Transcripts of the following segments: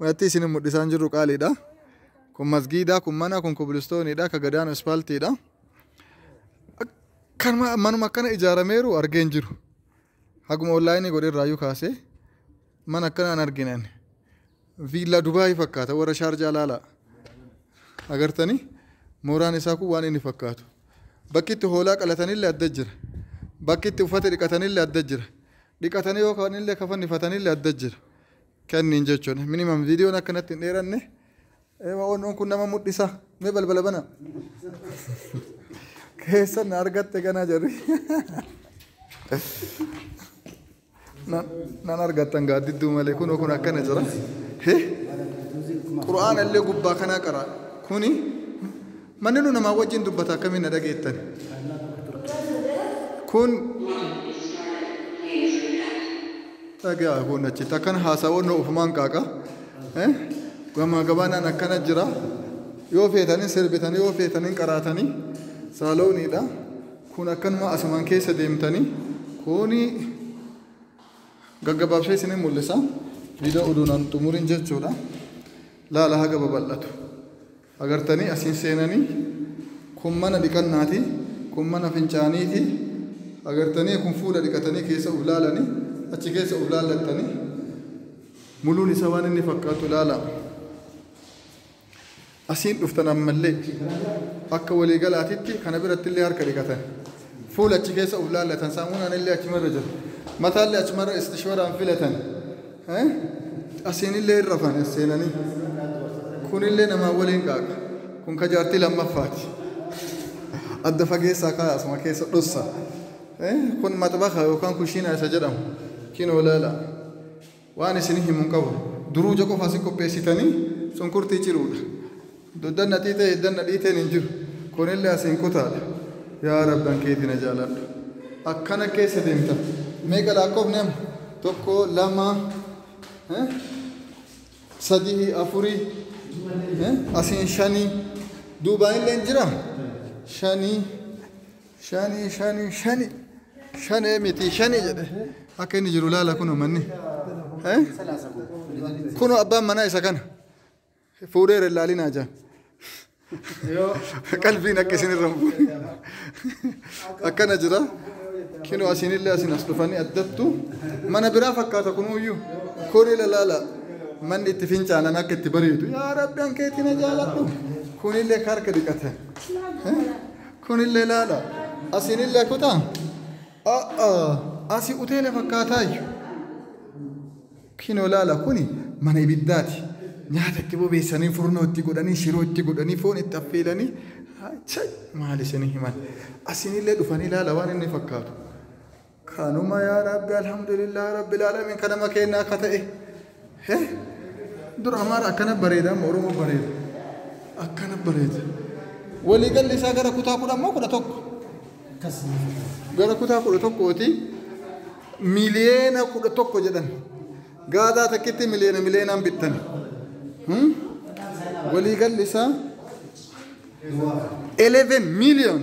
Manatti isin mul'isaan jirru qaaliidha. Kun masgiidaa, kun mana, kun kubilistooniidha, ka gadaan ispaaltiidha. Kan manuma akkana ijaarameeru argeen jiru. Haguma onlaayinii godhe irraayyuu kaasee mana akkana an arginan. Viillaa Dubaayii fakkaata warra shaarjaa laalaa. Agartanii mooraan isaa kun waan inni fakkaatu. Bakki itti hoolaa qalatanillee adda jira. Bakki itti uffata dhiqatanillee adda jira. Dhiqatanii yoo kaanillee kafannifatanillee adda jira. kenniin jechuun minimum viidiyoon akka natti hin dheeranne eema onnoon kun nama mudhisa mee balbala bana keessan na argatte ganaa jarri Nan- nan argattan gaaddidduu malee kunoo kun akkana jira He? qura'aana illee gubbaa kanaa qara kuni Manninuu namaa wajjin dubbata akkamiin na dhageettani? Kun. dhaga'a kun achitti akkana haasaa wannoo ofumaan qaaqa gamaa gabaanaan akkana jira yoo feetanii sirbitanii yoo feetanii qaraatanii saalooniidha kun akkanuma asumaan keessa deemtanii kuni gaggabaabsee isin mul'isa viidiyoo oduunaan xumuriin jechuudha laala haga babal'atu. Agartanii as hin seenanii kun mana dhiqannaati kun mana fincaaniiti agartanii kun fuula dhiqatanii keessa uf laalanii achi keessa uf laallattanii muluun isa waan inni fakkaatu laalaa asiin dhuftan ammallee akka waliigalaatitti kana birattillee harka dhiqatan Fuula achi keessa uf laallatan. Saamunaan illee achuma irra jira. Mataa illee achuma irra istishwaraan filatan. Asiin illee hin rafan as seenanii. Kun illee namaa waliin qaaqa. Kun ka jaartii lammaffaati. Adda fageessaa kaaya asuma keessa dhossa. Kun maxbaxa yookaan kushiinaa isa jedhamu. Kinoo laala. Waan isin himu hin qabu. Duruuja qofa asi qopheessitanii cunqurtii ciruudha. Doddanna xiixee hiddanna dhiiteen hin jiru. Kunillee asiin kutaadha. Yaa Rabbi an keeti na jaaladhu. Akkana keessa deemta. Meeqa laakkofne amma? Tokko, lama, eh, sadii, afurii, eh, asiin shanii. Duubaanillee hin jiraa? Shanii. Shani shani shani shanee miti shani jedhe akka inni jiru laala kun manni. Eh? Kunoo abbaan manaa isa kana fuudheera ilaalinaa jaan. Qalbiin akka isin irra hin buune. Akkana jira. Kinoo asiinillee asiin as dhufanii addattu mana biraa fakkaata kunuyyuu kuni lalaala manni itti fincaanan akka itti bareedu yaa rabbi hankeetti na jaaladhu kunillee ka harka dhiqatan. Eh? Kunillee laala. Asiinillee kutaa. A'a asi uteela fakkaataayyu. Kinoo laala kuni mana ibiddaati. Nyaata itti bobeessanii furnoo itti godhanii shiroo itti godhanii foon itti affeelanii chay maal isinii himan. Asiinillee dhufanii laala waan inni fakkaatu. Kanuma yaa rabbi alhamdulillah rabbil alamin kanama keenna akka ta'e. He? Dur amaara akkana bareeda amma oromoo bareeda. Akkana bareeda. Walii galli isaa gara kutaa kudha ammoo kudha tokko. Gara kutaa kudha tokkooti miliyeena kudha tokko jedhan. Gaadaa takkitti miliyeena miliyeenaan bittan. Hmm? Walii galli isaa 11 miliyoon.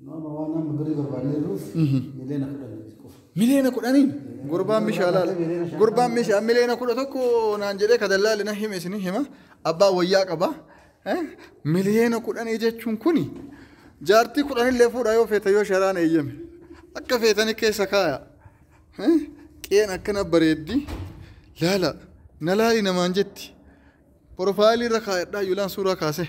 Nu amma waan amma birrii barbaannee jirruuf miliyoona kudhan qofa. Miliyoona kudhaniin gurbaan meeshaa laala. Gurbaan meeshaa miliyoona kudha tokko naan jedhee ka dallaalli na hime isin hima. Abbaa wayyaa qaba. Eh, Miliyoona kudhanii jechuun kuni jaartii kudhanillee fuudha yoo feete yoo sharaan eeyyame. Akka feetanii keessa kaaya. Eh, Qeen akkana bareeddi. Laala. Na laali namaan jetti. Porofaayilii irra kaayadhaa yulaan suuraa kaasee.